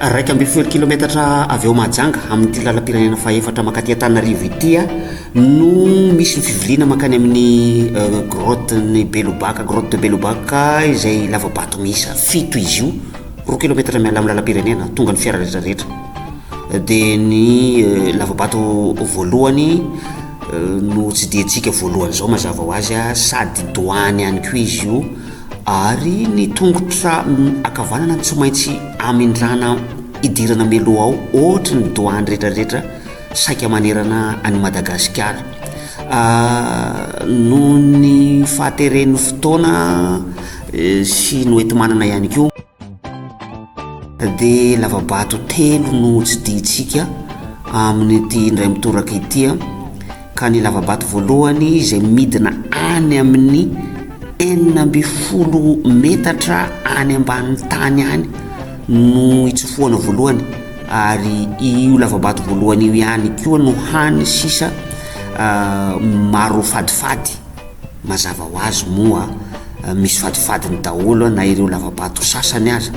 Iraika ambin'ny folo kilometatra avy ao Mahajanga, amin'ity lalam-pirenena fahefatra mankaty Antananarivo ity aho, no misy ny fivoriana mankany amin'ny euh, grotte-n'i Belobaka, grotte de Belobaka, izay lava-bato miisa fito izy io, roa kilometatra miala amin'ny lalam-pirenena, tonga ny fiara rehetra rehetra. Dia ny euh, lava-bato voalohany euh, no tsidihintsika voalohany izao mazava ho azy, sady doany ihany koa izy io, Ary ny tongotra ankavanana no tsy maintsy amindrana hidirana mialoha ao, ohatry ny douane retraretra saika manerana an'i Madagasikara. Noho ny fahateren'ny fotoana sy noetimanana ihany koa. Dia lavabato telo no tsidihitsika amin'ity indray mitoraka ity a, ka ny lavabato voalohany izay midina any amin'ny enina ambin'ny folo metatra any ambanin'ny tany any no itsofohana voalohany ary io lavabato voalohany io ihany koa no hany sisa maro fadifady. Mazava ho azy moa misy fadifadiny daholo na ireo lavabato sasany aza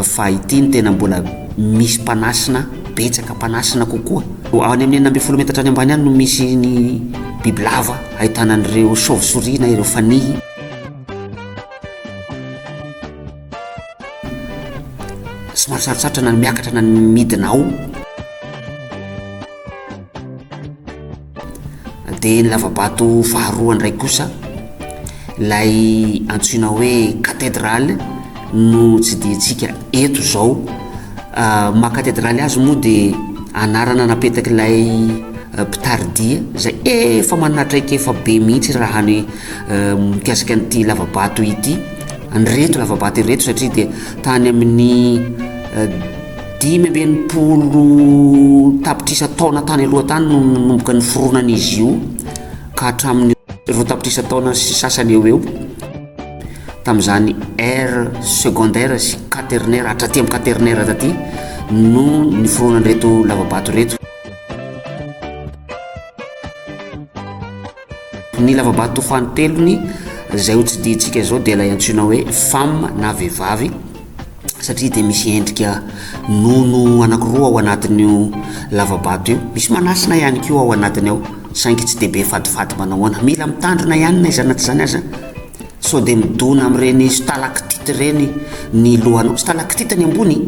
fa ity no tena mbola misy mpanasina betsaka mpanasina kokoa. Any amin'ny enina ambin'ny folo metatra any ambany any no misy ny bibilava ahitana an'ireo chauve-souris na ireo fanihy. Somary sarotsarotra na ny miakatra na ny midina ao. Dia ny lava-bato faharoa indray kosa, ilay antsoina hoe katedraly no tsidihitsika eto izao. Ny maha katedraly azy moa dia anarana napetak'ilay mpitari-dia izay efa manana traikefa be mihitsy raha ny mikasika an'ity lava-bato ity, an'ireto lava-bato ireto satria dia tany amin'ny Dimy amby enimpolo tapitrisa taona tany aloha tany no nanomboka niforonana izy io ka hatramin'ny roa tapitrisa taona sy sasany eo eo tamin'izany ère secondaire sy quaternaire hatraty amin'ny quaternaire taty no niforonan'ireto lavabato ireto. Ny lavabato fahatelony izay ho tsidihitsika izao dia ilay antsoina hoe femme na vehivavy satria dia misy endrika nono anakiroa ao anatin'io lavabato io. Misy manasina ihany koa ao anatiny ao saingy tsy dia be fatifaty manao ahoana. Mila mitandrina ihany na izany na tsy izany aza sao dia midona amin'ireny stalactite ireny ny lohanao. Stalactite ny ambony.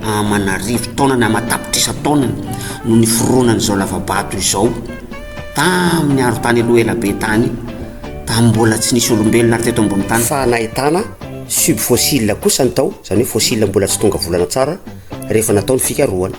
aman'arivo taonany, aman-tapitrisa taonany no niforonan'izao lava-bato izao tamin'ny arontany aloha ela be tany, tamin'ny mbola tsy nisy olombelona ary teto ambony tany. Fa nahitana subfossiles kosa ny tao, izany hoe fossiles mbola tsy tonga volana tsara rehefa natao ny fikarohana.